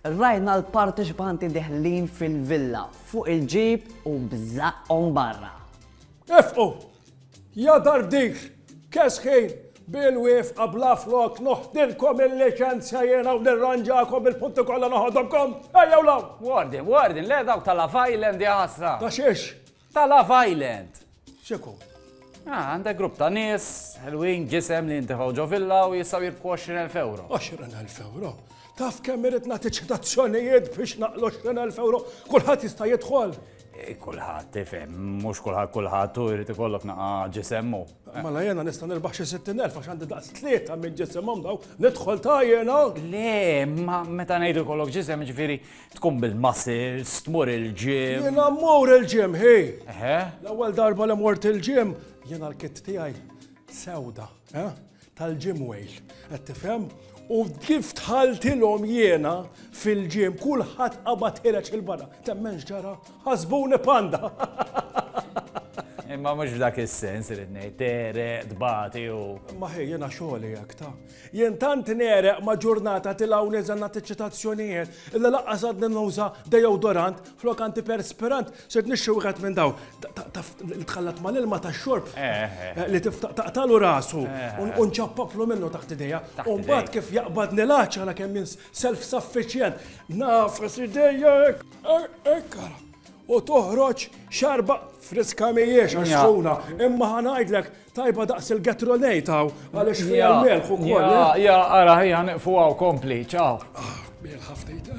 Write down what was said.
Rajna l-parteċipanti deħlin fil-villa fuq il-ġib u b'żaqqhom barra. Ifqu! Ja darbdik! Kesħin! Bil-wifqa bla flok noħdilkom il-liċenzja jiena u nirranġakom il-punti kollha noħodhomkom! Ejjew law! Warden, warden, le dawk tal-Love Island ja ħasra! Ta' xiex? Ta' Love Island! X'ikun? Ah, għandek grupp ta' nies, ħelwin, ġisem li jintefgħu ġo villa u jistgħu jirbħu 20,000 ewro. 20,000 ewro? Taf kemm irrid nagħti ċitazzjonijiet biex naqlu 20,000 ewro? Kulħadd jista' jidħol? Eh, kulħadd, tifhem, mhux kulħadd kulħadd u jrid ikollok naqa ġisemmu. Mela jena nista' nirbaħ xi 60,000 għax għandi daqs tlieta minn ġisimhom daw, nidħol ta' jena. Le, ma meta ngħidu kollok ġisem ġifieri Tkun bil-muscles, tmur il-gym. Jiena mmur il-gym, hi! L-ewwel darba li mort il-gym, jiena l-kit tiegħi sewda, eh? tal-gym wejl, qed tifhem? U kif tħaltilhom jiena fil-ġim, kulħadd qabad ħireġ il-barra. Temmenx ġara, ħasbuni panda. Imma mhux f'dak is-sens irid ngħid, tere, tbati u. Ma ħej jiena xogħli hekk ta' Jien tant negħreq ma' ġurnata tilgħu niżel nagħti ċċitazzjonijiet illi lanqas għadni nuża dejodorant flok antiperspirant, sirt nixtri wieħed minn dawn taf li tħallat mal-ilma tax-xorb li tiftaq taqtagħlu rasu u nċappaplu minnu taħt idejja u mbagħad kif jaqbadni l-għatx ara kemm jien self sufficient nagħfas idejja hekk hekk ara u toħroġ xarba friska m'hijiex għax sħuna imma ħa ngħidlek Tajba daqs il-gatrolejt hawn għaliex fiha l-melħ ukoll. Ja, eh? ja, ara ħija niqfu hawn kompli, ċaw. Ah, melħ ħaftejta.